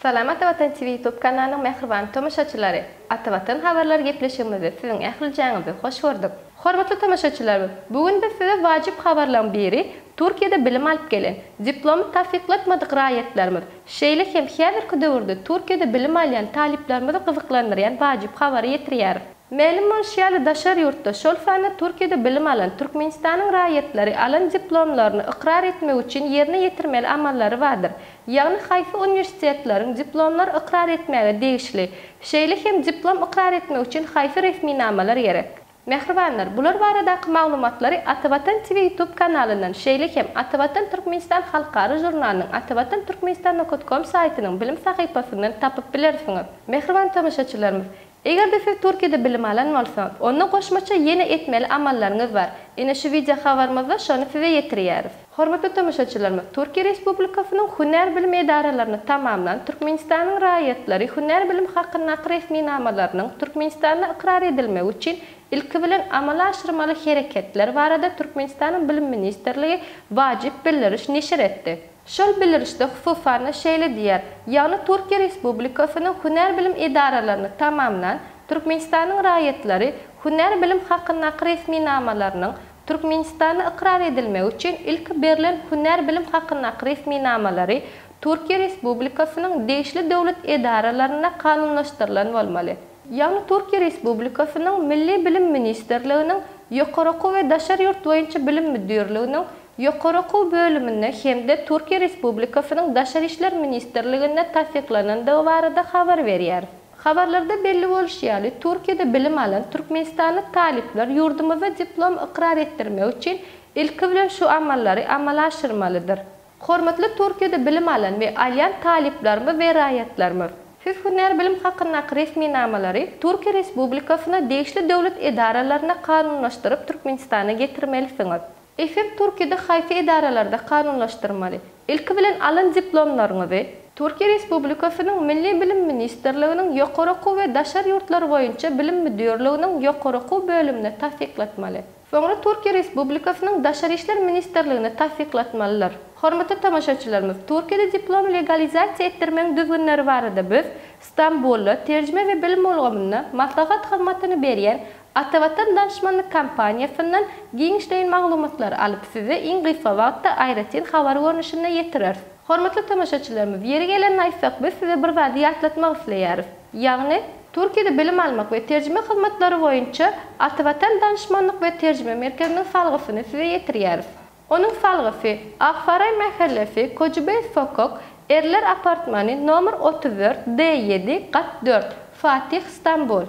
Salam Ata Watan TV YouTube kanalynyň mähriban tomaşaçylary! Ata Watan habarlary gepleşigimizde siziň ählijaňyzy hoş gördük. Hormatly tomaşaçylarymyz, bu gün biz size wajyp habarlaryň biri, Türkiýede bilim alyp gelen, diplomy tassyklatmadyk raýatlarymyz, şeýle hem häzirki döwürde Türkiýede bilim alýan talyplarymyzy gyzyklandyrýan wajyp habary ýetirýäris. Mälim bolşy ýaly daşary ýurtda, şol sanda Türkiýede bilim alan Türkmenistanyň raýatlary alan diplomlaryny ykrar etmek üçin ýerine ýetirmeli amallary bardyr. ýagny haýsy uniwersitetleriň diplomlar ykrar etmäge degişli, şeýle hem diplom ykrar etmek üçin haýsy resminamalar gerek. Mähribanlar, bular baradaky maglumatlary Atavatan TV YouTube kanalyndan, şeýle hem Atavatan Türkmenistan halkara žurnalynyň Atavatan Türkmenistan nokot kom saýtynyň bilim sahypasyndan tapyp bilersiňiz. Mähriban tomaşaçylarymyz, Eger-de siz Türkiýede bilim alan bolsaňyz, onda goşmaça ýene etmeli amallaryňyz bar. Ine şu wideo habarymyzda şony size ýetirýäris. Hormatly tomaşaçylarymyz, Türkiýe Respublikasynyň hünär bilim edaralaryny tamamlan Türkmenistanyň raýatlary hünär bilim hakyndaky resminamalarynyň Türkmenistanda ykrar edilmegi üçin ilki bilen amala aşyrmaly hereketler barada Türkmenistanyň Bilim ministrligi wajyp bildiriş neşir etdi. Şol bildirişde hususan-da şeýle diýýär, Ýagny Türkiýe Respublikasynyň hünär bilim edaralaryny tamamlan Türkmenistanyň raýatlary hünär bilim hakyndaky resminamalarynyň Türkmenistanda ykrar edilmegi üçin ilki berlen hünär bilim hakyndaky resminamalary Türkiýe Respublikasynyň degişli döwlet edaralarynda kanunlaşdyrylan bolmaly. Ýagny Türkiýe Respublikasynyň Milli bilim ministrliginiň Ýokary okuw we daşary ýurt boýunça bilim müdirliginiň Ýokary okuw bölüminde hem-de Türkiýe Respublikasynyň Daşary işler ministrliginde tassyklanandygy barada habar berýär. Habarlarda belli bolşy ýaly, Türkiýede bilim alan türkmenistanly talyplar ýurdumyzda diplom ykrar etdirmek üçin ilki bilen şu amallary amala aşyrmalydyr. Hormatly Türkiýede bilim alan we alýan talyplarymyz we raýatlarymyz! Siz hünär bilim hakyndaky resminamalary Türkiýe Respublikasyna degişli döwlet edaralaryna kanunlaşdyryp Türkmenistana getirmelisiňiz. Efir Türkiýede haýsy edaralarda kanunlaşdyrmaly? Ilki bilen alan diplomlaryňyzy. Türkiýe Respublikasynyň Milli bilim ministrliginiň Ýokary okuw we daşary ýurtlar boýunça bilim müdirliginiň ýokary okuw bölümine tassyklatmaly. Soňra Türkiýe Respublikasynyň Daşary işler ministrligine tassyklatmalydyr. Hormatly tomaşaçylarymyz, Türkiýede diplomy legalizasiýa etdirmegiň düzgünleri barada biz Stambulda terjime we bilim ulgamynda maslahat hyzmatyny berýän Atavatan Danşmanlyk Kompaniýasyndan giňişleýin maglumatlary alyp size iň gysga wagtda aýratyn habar görnüşinde ýetireris. Hormatly tomaşaçylarymyz, ýeri gelende aýtsak biz size bir zady ýatlatmak isleýäris. Ýagny, Türkiýede bilim almak we terjime hyzmatlary boýunça Atavatan Danşmanlyk we terjime merkeziniň salgysyny size ýetirýäris. Onuň salgysy, Aksaraý mähellesi, Kojibeý sokak, Erler apartmany, nomer otuz dört, D ýedi, gat dört, Fatih, Stambul.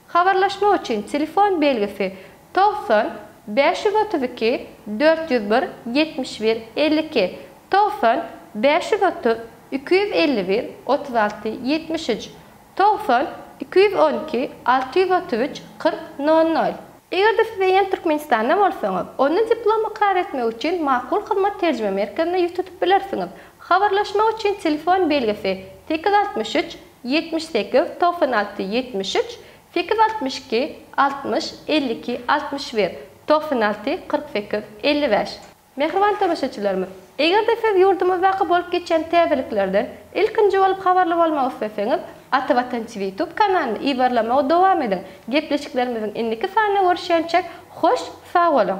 Habarlaşmak üçin telefon belgisi, togsan, bäş ýüz otuz iki, dört ýüz bir, ýetmiş bir, elli iki, togsan, bäş ýüz otuz, iki ýüz elli bir, otuz alty, ýetmiş üç, Togsan iki ýüz on iki alty ýüz otuz üç kyrk nol nol. Eger-de siz eýýäm Türkmenistanda bolsaňyz, onda diplom ykrar etmek üçin Makul Hyzmat terjime merkezine ýüz tutup bilersiňiz. Habarlaşmak üçin telefon belgisi sekiz altmyş üç ýetmiş sekiz togsan alty ýetmiş üç, sekiz altmyş iki altmyş elli iki altmyş bir, togsan alty kyrk sekiz elli bäş. Mähriban tomaşaçylarymyz! Eger-de siz ýurdumyzdaky bolup geçýän täzeliklerden ilkinji bolup habarly bolmak isleseňiz, Ata Watan TV YouTube kanalyny yzarlamagy dowam ediň! Gepleşiklerimiziň indiki sanynda görüşýänçäk, hoş sag boluň!